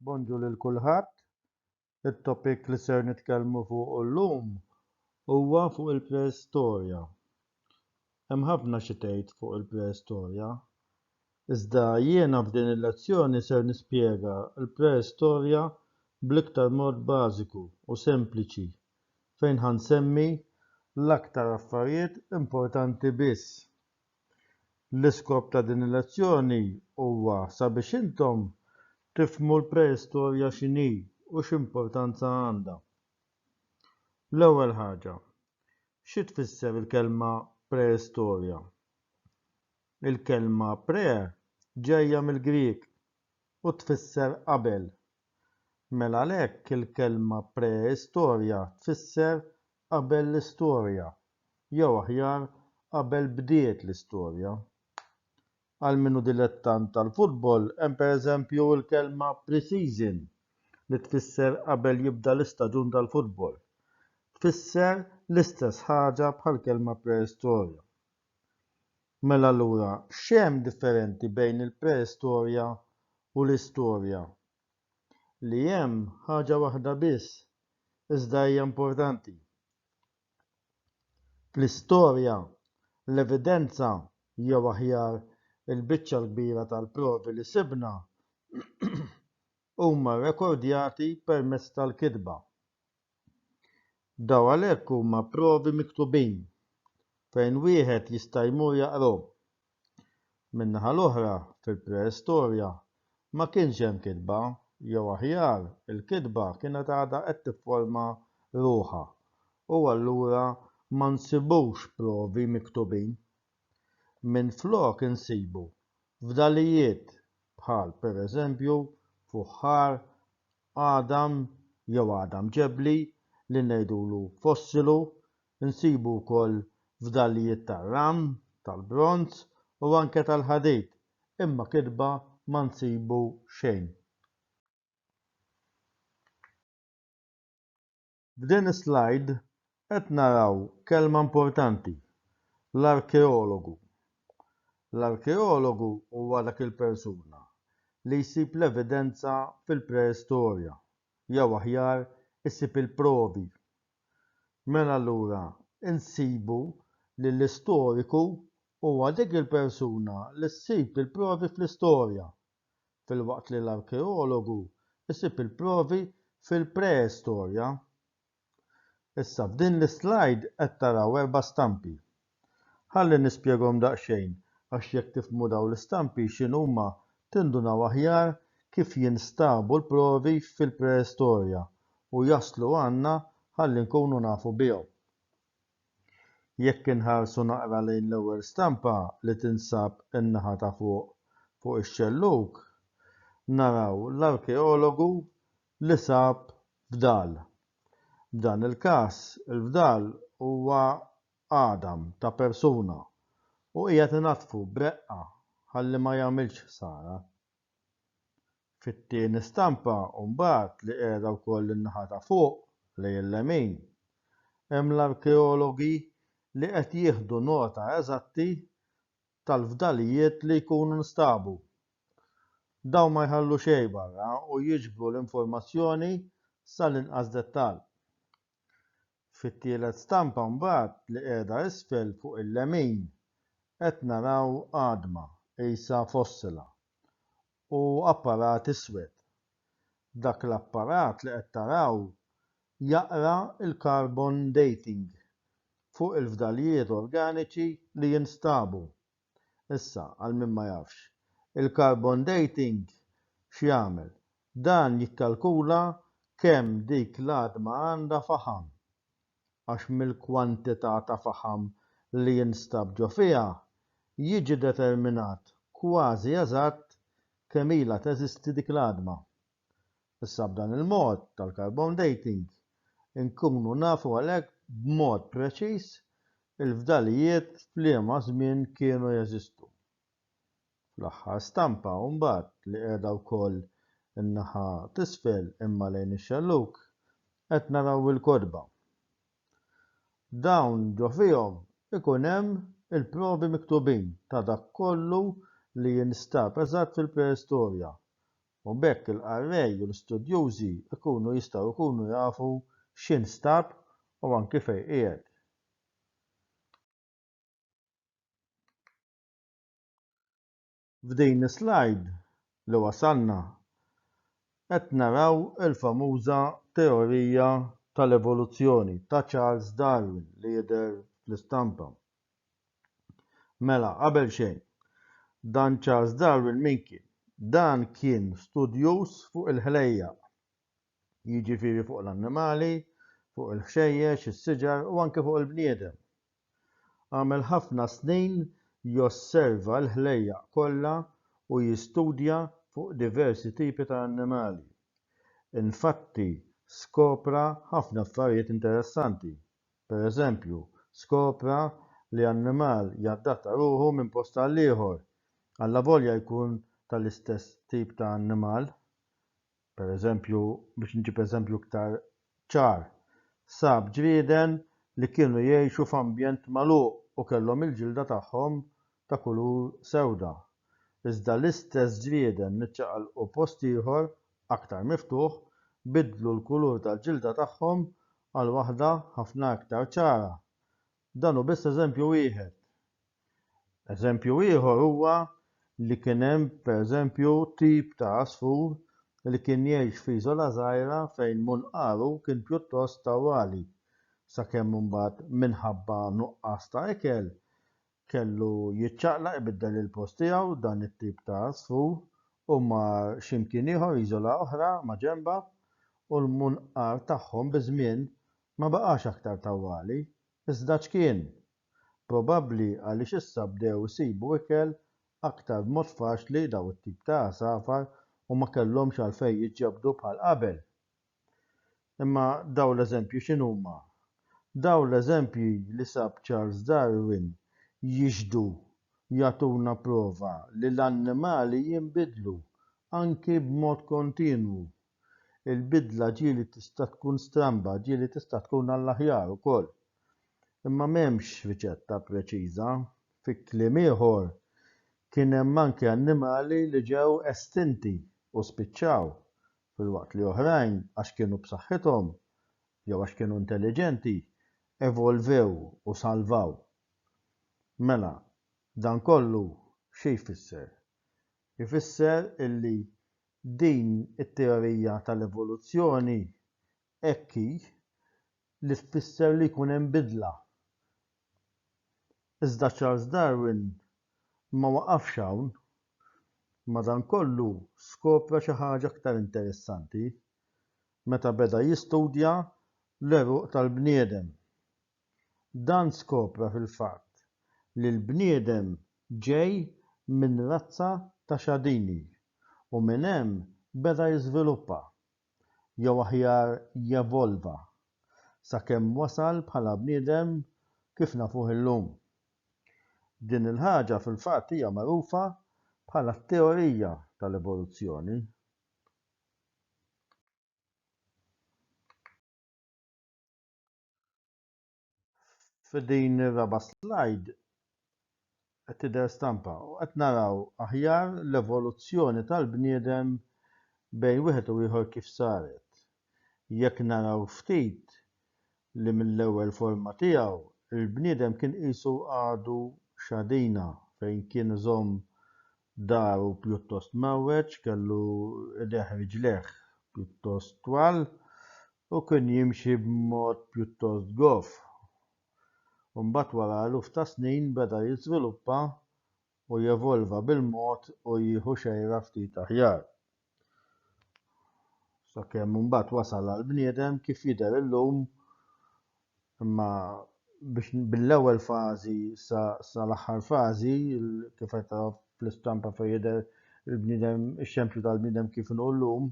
Bonġu lil kulħadd. It-topic li ser nitkellmu fuqu llum huwa fuq il-preistorja. Hemm ħafna xi tgħid fuq il-preistorja. Iżda jiena f'din il-lezzjoni ser nispjega l-preistorja bl-iktar mod bażiku u sempliċi fejn ħa nsemmi l-aktar affarijiet importanti biss. L-iskop ta' din il-lezzjoni huwa sabiex intom tifhmu l-preistorja x'inhi u x'importanza għandha. L-ewwel ħaġa, xi tfisser il-kelma preistorja? Il-kelma pre ġejja mill-Grieg u tfisser qabel. Mela għalhekk il-kelma preistorja tfisser qabel l-istorja, jew aħjar qabel bdiet l-istorja. Għal min hu dilettant tal-futbol hemm pereżempju l-kelma pre-season li tfisser qabel jibda l-istaġun tal-futbol. Tfisser l-istess ħaġa bħall-kelma preistorja. Mela allura x'hemm differenti bejn il-preistorja u l-istorja? li hemm ħaġa waħda biss iżda hija importanti. Fl-istorja, l-evidenza, jew aħjar, il-biċċa l-kbira tal-provi li sibna, huma rrekordjati permezz tal-kitba. Dawn għalhekk huma provi miktubin fejn wieħed jista' jmur jaqrahom. Min-naħa l-oħra, fil-preistorja, ma kienx hemm kitba, jew aħjar, il-kitba kienet għadha qed tifforma ruħha, u allura ma nsibux provi miktubin. Minflok insibu fdalijiet bħal, pereżempju, fuħħar Għadam jew għadam ġebli li ngħidulu fossilu nsibu wkoll fdalijiet tar-ram, tal-bronż u anke tal-ħadid, imma kitba ma nsibu xejn. F'din is-slide qed naraw kelma importanti, l-arkeologu. L-arkeologu huwa dak il-persuna li jsib l-evidenza fil-preistorja, jew aħjar isib il-provi. Mela allura insibu li l-istoriku huwa dik il-persuna li ssib il-provi fl-istorja, filwaqt li l-arkeologu jsib il-provi fil-preistorja. Issa f'din l-islajd qed taraw erba' stampi. Ħalli nispjegahom daqsxejn għax jekk tifhmu dawn l-istampi x'inhuma tindunaw aħjar kif jinstabu l-provi fil-preistorja u jaslu għandna ħalli nkunu nafu bihom. Jekk inħarsu naqra lejn l-ewwel stampa li tinsab in-naħa ta' fuq fuq ix-xellug, naraw l-arkeologu li sab fdal. F'dan il-każ, il-fdal huwa għadam ta' persuna u qiegħed inaddfu b'reqqa ħalli ma jagħmilx ħsara. Fit-tieni stampa mbagħad li qiegħda wkoll in-naħa ta' fuq lejn il-lemin, hemm l-arkeologi li qed jieħdu nota eżatti tal-fdalijiet li jkunu nstabu. Dawn ma jħallu xejn barra u jiġbru l-informazzjoni sal-inqas dettall. Fit-tielet stampa mbagħad li qiegħda isfel fuq il-lemin qed naraw għadma qisha fossila u apparat iswed. Dak l-apparat li qed taraw jaqra l-carbon dating fuq il-fdalijiet organiċi li jinstabu. Issa, għal min ma jafx, il-carbon dating x'jagħmel? Dan jikkalkula kemm dik l-għadma għandha faħam, għax mill-kwantità ta' faħam li jinstab ġo fiha jiġi determinat kważi eżatt kemm ilha teżisti dik l-għadma. Issa b'dan il-mod tal-carbon dating inkunu nafu għalhekk b'mod preċiż il-fdalijiet f'liema żmien kienu jeżistu. Fl-aħħar stampa mbagħad li qiegħda wkoll in-naħa t'isfel imma lejn ix-xellug qed naraw il-kotba. Dawn ġo fihom ikun hemm il-provi miktubin ta' dak kollu li jinstab eżatt fil-preistorja u b'hekk il-qarrej u l-istudjużi jkunu jistgħu jkunu jafu x'instab u anki fejn qiegħed. F'din is-slajd li wasalna qed naraw il-famuża teorija tal-evoluzzjoni ta' Charles Darwin li jidher fl-istampa. Mela, qabel xejn, dan Charles Darwin min kien? Dan kien studjuż fuq il-ħlejjaq, jiġifieri fuq l-annimali, fuq il-ħxejjex, is-siġar u anke fuq il-bniedem. Għamel ħafna snin josserva l-ħlejjaq kollha u jistudja fuq diversi tipi ta' annimali. Infatti, skopra ħafna affarijiet interessanti, Per eżempju, skopra li annimal jadatta ruħu minn post għal ieħor, allavolja jkun tal-istess tip ta' annimal. Per eżempju, biex nġib eżempju iktar ċar, sab ġrieden li kienu jgħixu f'ambjent magħluq u kellhom il-ġilda tagħhom ta' kulur sewda. Iżda l-istess ġrieden li ċaqalqu post ieħor aktar miftuħ biddlu l-kulur tal-ġilda tagħhom għal waħda ħafna iktar ċara. Dan hu biss eżempju wieħed. Eżempju ieħor huwa li kien hemm pereżempju tip ta' għasfur li kien jgħix f'iżola żgħira fejn munqaru kien pjuttost tawwali, sakemm imbagħad minħabba nuqqas ta' ikel Kellu jiċċaqlaq ibiddel il-post tiegħu dan it-tip ta' għasfur u mar xi mkien ieħor iżola oħra maġenbha u l-munqar tagħhom biż-żmien ma baqax aktar tawwali, iżda ċkien. Probabbli għaliex issa bdew isibu ikel aktar b'mod faċli daw it-tip ta' għasafar u ma kellhomx għalfejn jiġġebdu bħal qabel. Imma dawn l-eżempji x'inhuma? Dawn l-eżempji li sab Charles Darwin jixhdu jagħtuna prova li l-annimali jinbidlu, anki b'mod kontinwu. Il-bidla ġieli tista' tkun stramba, ġieli tista' tkun għall-aħjar ukoll. Imma m'hemmx riċetta preċiża. Fi kliem ieħor, kien hemm anki annimali li ġew estinti u spiċċaw, filwaqt li oħrajn, għax kienu b'saħħithom jew għax kienu intelliġenti, evolvew u salvaw. Mela, dan kollu xi jfisser? Ifisser illi din it-teorija tal-evoluzzjoni hekk hi li tfisser li jkun hemm bidla. Iżda Charles Darwin ma waqafx hawn. Madankollu, skopra xi ħaġa aktar interessanti meta beda jistudja l-għeruq tal-bniedem. Dan skopra fil-fatt li l-bniedem ġej minn razza ta' xadini u minn hemm beda jiżviluppa. jew aħjar jevolva, sakemm wasal bħala bniedem kif nafuh illum. Din il-ħaġa fil-fatt hija magħrufa bħala t-teorija tal-evoluzzjoni. F'din ir-raba' slide qed tidher stampa u qed naraw aħjar l-evoluzzjoni tal-bniedem bejn wieħed u ieħor kif saret. Jekk naraw ftit li mill-ewwel forma tiegħu l-bniedem kien qisu għadu xadina fejn kien iżomm daru pjuttost mgħawweġ, kellu idejh u riġlejh pjuttost twal, Hu kien jimxi b'mod pjuttost goff, u mbagħad wara eluf ta' snin beda jiżviluppa u jevolva bil-mod u jieħu xejra ftit aħjar, sakemm imbagħad wasal għall-bniedem kif jidher illum, imma biex mill-ewwel fażi sa l-aħħar fażi, kif qed tara fl-istampa fejn jidher il-bniedem, ix-xempju tal-bniedem kif inhu llum,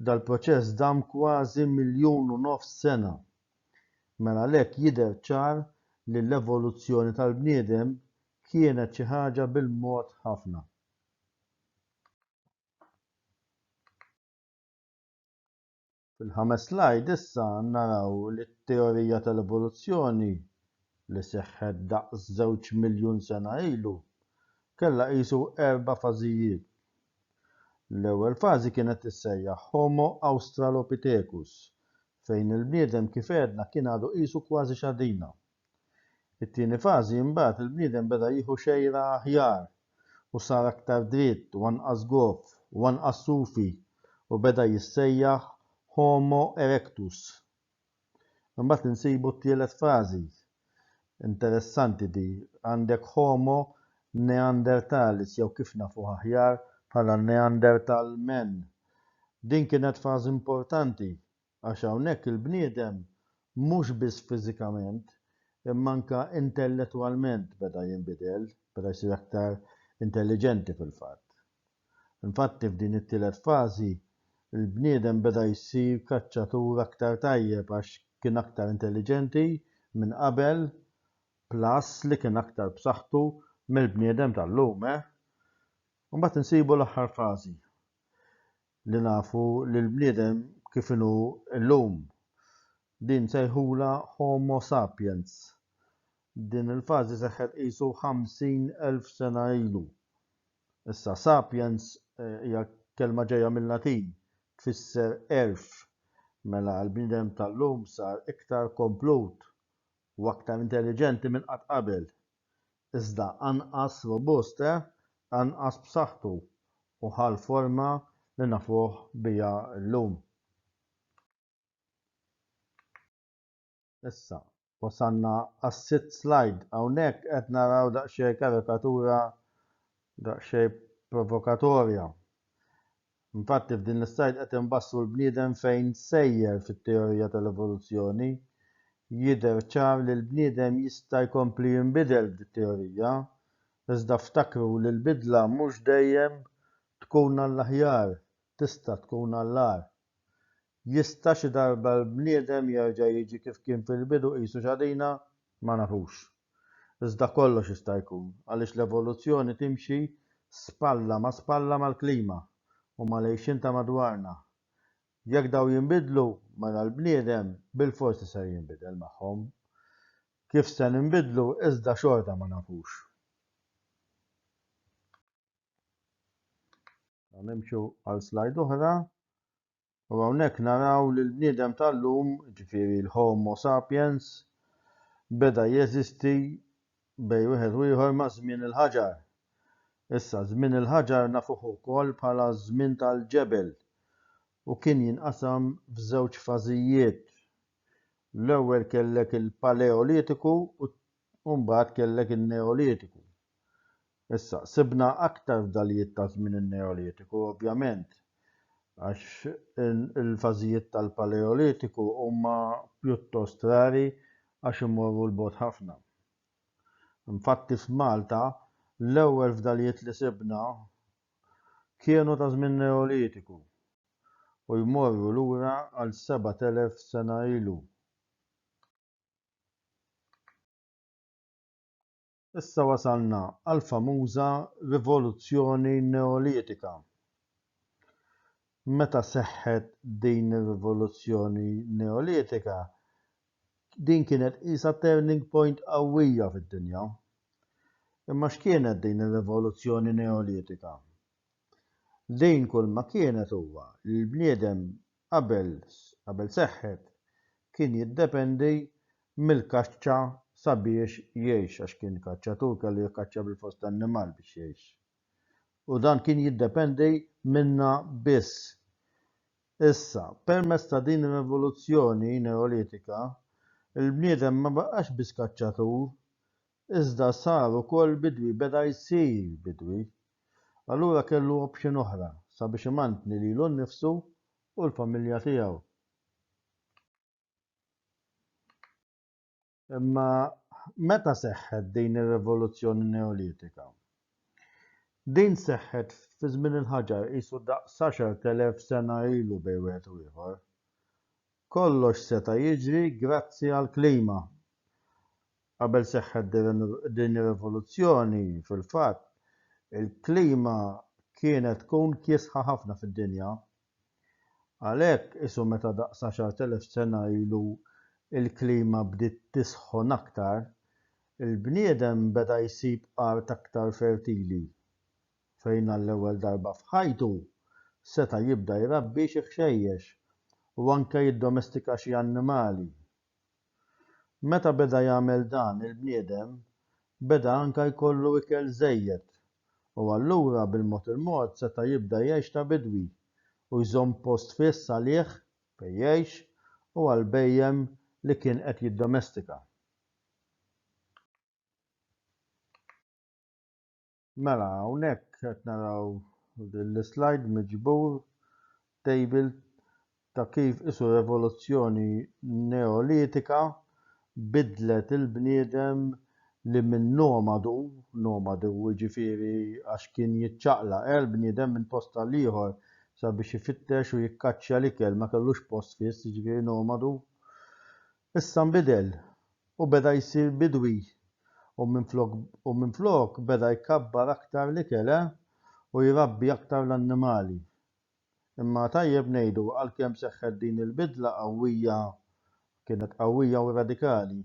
Dal-proċess dam kważi miljun u nofs sena. Mela għalhekk jidher ċar li l-evoluzzjoni tal-bniedem kienet xi ħaġa bil-mod ħafna. Fil-ħames slajd issa naraw li t-teorija tal-evoluzzjoni li seħħet daqs żewġ miljun sena ilu kellha qisu erba' fażijiet. L-ewwel fażi kienet tissejjaħ Homo australopithecus, fejn il-bniedem kif għedna kien għadu qisu kważi xadina. It-tieni fażi imbagħad il-bniedem beda jieħu xejra aħjar u sar aktar dritt u anqas goff u anqas sufi u beda jissejjaħ Homo erectus. Imbagħad insibu t-tielet frażi, interessanti di, għandek Homo neanderthalis jew kif nafuh aħjar bħala Neanderthal men. Din kienet frażi importanti għax hawnhekk il-bniedem mhux biss fiżikament imma anke intelletwalment beda jinbidel, beda jsir aktar intelliġenti fil-fatt. Infatti f'din it-tielet fażi, il-bniedem beda jsir kaċċatur aktar tajjeb għax kien aktar intelliġenti minn qabel plus li kien aktar b'saħħtu mill-bniedem tal-lum, eh? Imbagħad insibu l-aħħar fażi li nafu li l-bniedem kif inhu llum. Din nsejħulha Homo sapiens. Din il-fażi seħħet qisu 50,000 sena ilu. Issa, sapiens hija kelma ġejja mil-Latin, tfisser għerf. Mela, il-bniedem tal-lum sar iktar komplut u aktar intelliġenti minn qatt qabel. Iżda anqas robust, eh? Anqas b'saħħtu u ħa l-forma li nafuh biha llum. Issa, wasalna għas-sitt slajd. Hawnhekk qed naraw daqsxejn karikatura daqsxejn provokatorja. Infatti f'din l-islajd qed inbassru l-bniedem fejn sejjer fit-teorija tal-evoluzzjoni. Jidher ċar li l-bniedem jista' jkompli jinbidel b'dit-teorija, iżda ftakru li l-bidla mhux dejjem tkun għall-aħjar, tista' tkun għall-agħar. Jista' xi darba l-bniedem jerġa' jiġi kif kien fil-bidu qisu x'għadina? Ma nafux. Iżda kollox jista' jkun, għaliex l-evoluzzjoni timxi spalla ma' spalla mal-klima u mal-għixien ta' madwarna. Jekk dawn jinbidlu, mela l-bniedem bilforsi ser jinbidel magħhom. Kif se ninbidlu iżda xorta ma nafux. Nimxu għal slide oħra U hawnhekk naraw li l-bniedem tal-lum, ġifieri l-Homo sapiens, beda jeżisti bejn wieħed u ieħor ma' żmien il-ħaġar. Issa, żmien il-ħaġar nafuh ukoll bħala ż-żmien tal-ġebel u kien jinqasam f'żewġ fażijiet. L-ewwel kellek il-Paleolitiku u U mbagħad kellek in-Neolitiku. Issa, sibna aktar fdalijiet ta' żmien in-Neolitiku, ovvjament, għax il-fażijiet tal-Paleolitiku huma pjuttost rari għax imorru 'l bogħod ħafna. Infatti f'Malta l-ewwel fdalijiet li sibna kienu ta' żmien Neolitiku u jmorru lura għal 7,000 sena ilu. Issa wasalna għall-famuża rivoluzzjoni Neolitika. Meta seħħet din ir-rivoluzzjoni Neolitika, din kienet qisha turning point qawwija fid-dinja. Imma x'kienet din ir-rivoluzzjoni Neolitika? Din kulma kienet huwa li l-bniedem qabel qabel seħħet kien jiddependi mill-kaċċa sabiex jgħix għax kien kaċċatur kellu jikkaċċja bil-fors tan-nimal biex jgħix. U dan kien jiddependi minnha biss. Issa, permezz ta' din ir-rivoluzzjoni Neolitika, il-bniedem ma baqax biss kaċċatur, Iżda sar ukoll bidwi, beda jsir bidwi. Allura kellu option oħra sabiex imantni lilu nnifsu u l-familja tiegħu. Imma meta seħħet din ir-rivoluzzjoni Neolitika? Din seħħet fi żmien il-ħaġar, qisu daqs għaxart elef sena ilu bejn wieħed u ieħor. Kollox seta' jiġri grazzi għall-klima. Qabel seħħet din ir-rivoluzzjoni, fil-fatt, il-klima kienet tkun kiesħa ħafna fid-dinja. Għalhekk, qisu meta daqs għaxart elef sena ilu l-klima bdiet tisħon aktar, il-bniedem beda jsib art aktar fertili fejn għall-ewwel darba f'ħajtu seta' jibda jrabbi xi ħxejjex u anke jiddomestika xi annimali Meta beda jagħmel dan il-bniedem beda anke jkollu ikel żejjed u allura bil-mod il-mod seta' jibda jgħix ta' bidwi u jżomm post fiss għalih fejn jgħix u għall-bhejjem li kien qed jiddomestika. Mela hawnhekk qed naraw din l-slide miġbur table ta' kif isu revoluzzjoni neolitika biddlet il-bniedem li minn nomadu, nomadu jiġifieri għax kien jiċċaqlaq eh l-bniedem minn post għal ieħor sabiex ifittex u jikkaċċja l-ikel ma kellux post fiss jiġifieri nomadu, Issa nbidel u beda jsir bidwi u minflok u minflok beda jkabbar aktar l-ikel eh u jrabbi aktar l-annimali. Imma tajjeb ngħidu għalkemm seħħet din il-bidla qawwija kienet qawwija u radikali,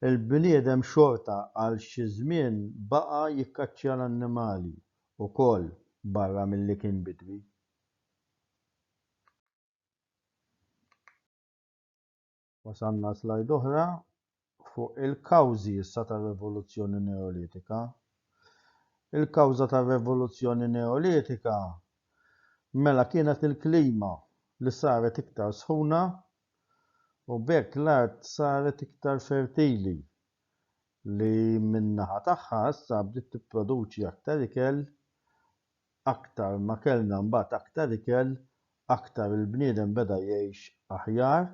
il-bniedem xorta għal xi żmien baqa' jikkaċċja l-annimali wkoll barra milli kien bidwi. Wasalna għal slide oħra fuq il-kawżi issa tar-Revoluzzjoni Neolitika. Il-kawża tar-Revoluzzjoni Neolitika mela kienet il-klima li saret iktar sħuna u b'hekk l-art saret iktar fertili li min-naħa tagħha issa bdiet tipproduċi aktar ikel aktar ma kellna mbagħad aktar ikel, aktar il-bniedem beda jgħix aħjar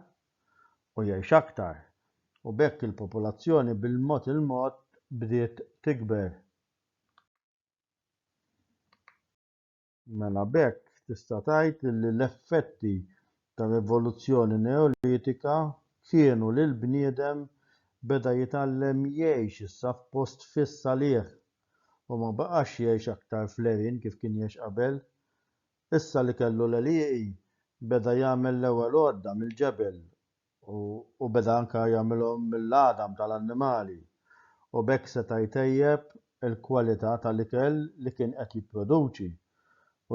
u jgħix aktar, u b'hekk il-popolazzjoni bil-mod il-mod bdiet tikber. Mela b'hekk tista' tgħid li l-effetti ta' l-evoluzzjoni Neolitika kienu li l-bniedem beda jitgħallem jgħix issa f'post fiss għalih u ma baqax jgħix aktar fl-għerien kif kien jgħix qabel. Issa li kellu l-għelieqi beda jagħmel l-ewwel għodda mill-ġebel u u beda anke jagħmilhom mill-għadam ta' l-annimali u b'hekk seta' jtejjeb il-kwalità tal-ikel li kien qed jipproduċi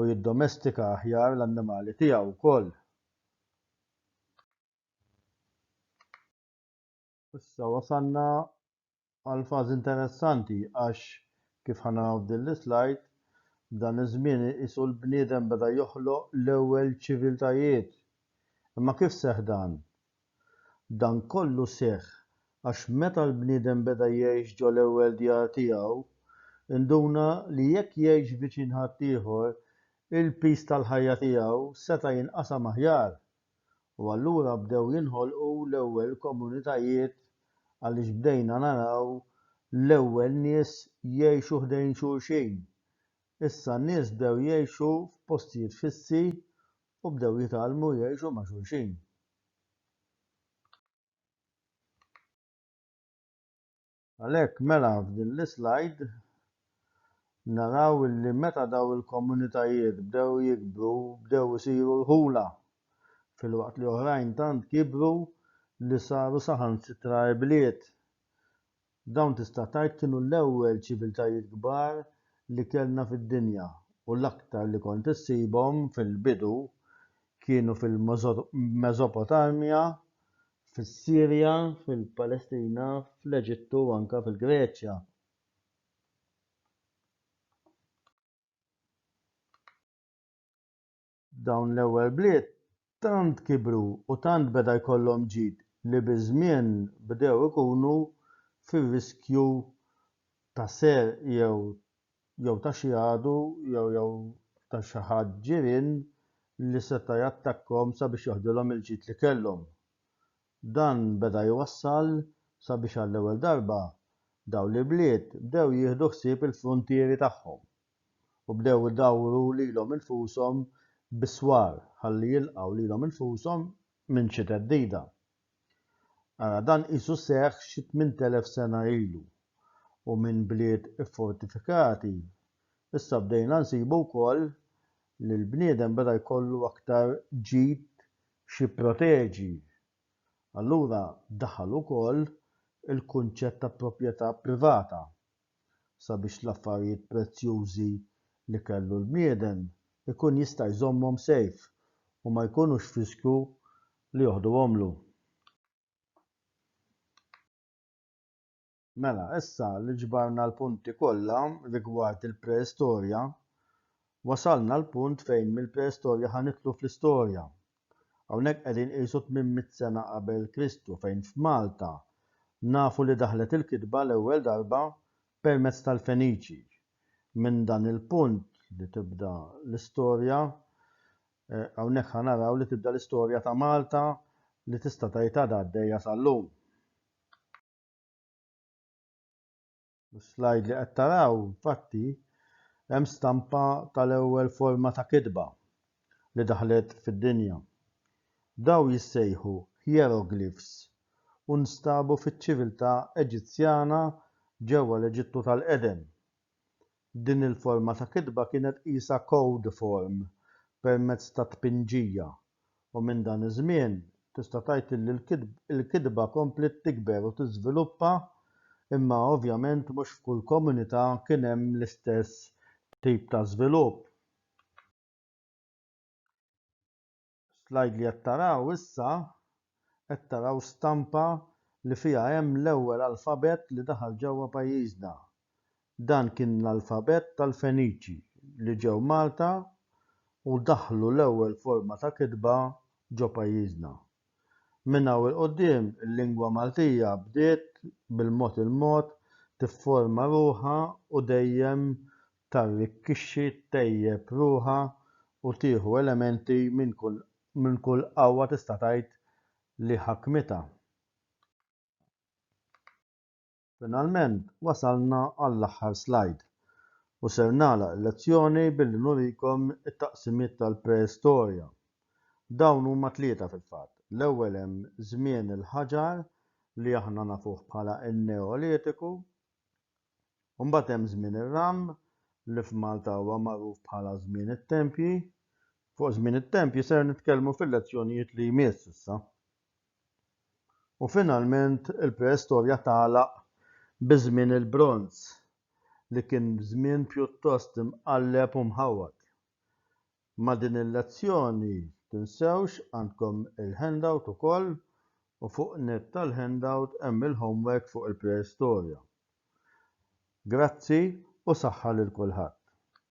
u jiddomestika aħjar l-annimali tiegħu wkoll. Issa wasalna għal fażi interessanti għax kif ħa naraw f'din l-islajd, b'dan iż-żmien iqisu l-bniedem beda joħloq l-ewwel ċiviltajiet. Imma kif seħħ dan? Dan kollu seħħ għax meta l-bniedem beda jgħix ġol-ewwel djar tiegħu, induna li jekk jgħix viċin ħaddieħor, il-piż tal-ħajja tiegħu seta' jinqasam aħjar. U allura bdew jinħolqu l-ewwel komunitajiet għaliex bdejna naraw l-ewwel nies jgħixu ħdejn xulxin. Issa n-nies bdew jgħixu f'postijiet fissi u bdew jitgħallmu jgħixu ma' xulxin. Għalhekk mela f'din l-islajd naraw li meta dawn il-komunitajiet bdew jikbru bdew isiru rħula filwaqt li oħrajn tant kibru li saru saħansitra ibliet Dawn tista' tgħid kienu l-ewwel ċiviltajiet kbar li kellna fid-dinja u l-aktar li kont issibhom fil-bidu kienu fil-Meżopotamja, fis-Sirja, fil-Palestina, fl-Eġittu u anke fil-Greċja. Dawn l-ewwel bliet tant kibru u tant beda jkollhom ġid li biż-żmien bdew ikunu fir-riskju ta' serq jew jew ta' xi għadu jew jew ta' xi ħadd ġirien li seta' jattakkahom sabiex joħdilhom il-ġid li kellhom. Dan beda jwassal sabiex għall-ewwel darba dawn l-ibliet bdew jieħdu ħsieb il-fruntieri tagħhom. u bdew idawru lilhom infushom bis-swar ħalli jilqgħu lilhom infushom minn xi theddida. Ara dan qisu seħħ xi tmint elef sena ilu u minn bliet iffortifikati issa bdejna nsibu wkoll li l-bniedem beda jkollu aktar ġid x'jipproteġi. Allura daħal ukoll il-kunċett ta' proprjetà privata. sabiex l-affarijiet prezzjużi li kellu l-bniedem ikun jista' jżommhom safe u ma jkunux f'riskju li joħduhomlu. Mela, issa li ġbarna l-punti kollha rigward il-preistorja, wasalna l-punt fejn mill-preistorja ħa nidħlu fl-istorja, Hawnhekk qegħdin qisu tmien mitt sena qabel Kristu fejn f'Malta nafu li daħlet il-kitba l-ewwel darba permezz tal-Feniċi. Minn dan il-punt li tibda l-istorja, hawnhekk ħa naraw li tibda l-istorja ta' Malta li tista' tgħid għadha għaddejja sal-lum. Is-slajd li qed taraw infatti hemm stampa tal-ewwel forma ta' kitba li daħlet fid-dinja. Dawn jissejħu hieroglifs u nstabu fiċ-ċiviltà Eġizzjana ġewwa l-Eġittu tal-qedem. Din il-forma ta' kitba kienet qisha code form permezz ta' tpinġija u minn dan iż-żmien tista' tgħid illi l-kitba kompliet tikber u tiżviluppa imma ovvjament mhux f'kull komunità kien hemm l-istess tip ta' żvilupp. Slide li qed taraw issa qed taraw stampa li fiha hemm l-ewwel alfabett li daħal ġewwa pajjiżna. Dan kien l-alfabett tal-Feniċi li ġew Malta u daħħlu l-ewwel forma ta' kitba ġo pajjiżna. Minn hawn 'il quddiem il-lingwa Maltija bdiet bil-mod il-mod tifforma ruħha u dejjem tarrikkixxi, ttejjeb ruħha u tieħu elementi minn kull qawwa tista' tgħid li ħakmitha. Finalment wasalna għall-aħħar slajd u ser nagħlaq il-lezzjoni billi nurikom it-taqsimiet tal-Preistorja. Dawn huma tlieta fil-fatt. L-ewwel hemm żmien il-ħaġar li aħna nafuh bħala n-Neolitiku, U mbagħad hemm żmien ir-ram li f'Malta huwa magħruf bħala żmien it-tempji. Fuq żmien it-tempji ser nitkellmu fil-lezzjonijiet li jmiss issa. U finalment il-preistorja tagħlaq bi żmien il-bronż li kien żmien pjuttost imqalleb u mħawwad. Ma' din il-lezzjoni tinsewx għandkom il-handout ukoll u fuq net tal-handout hemm il-homework fuq il-preistorja. Grazzi u saħħa lil kulħadd.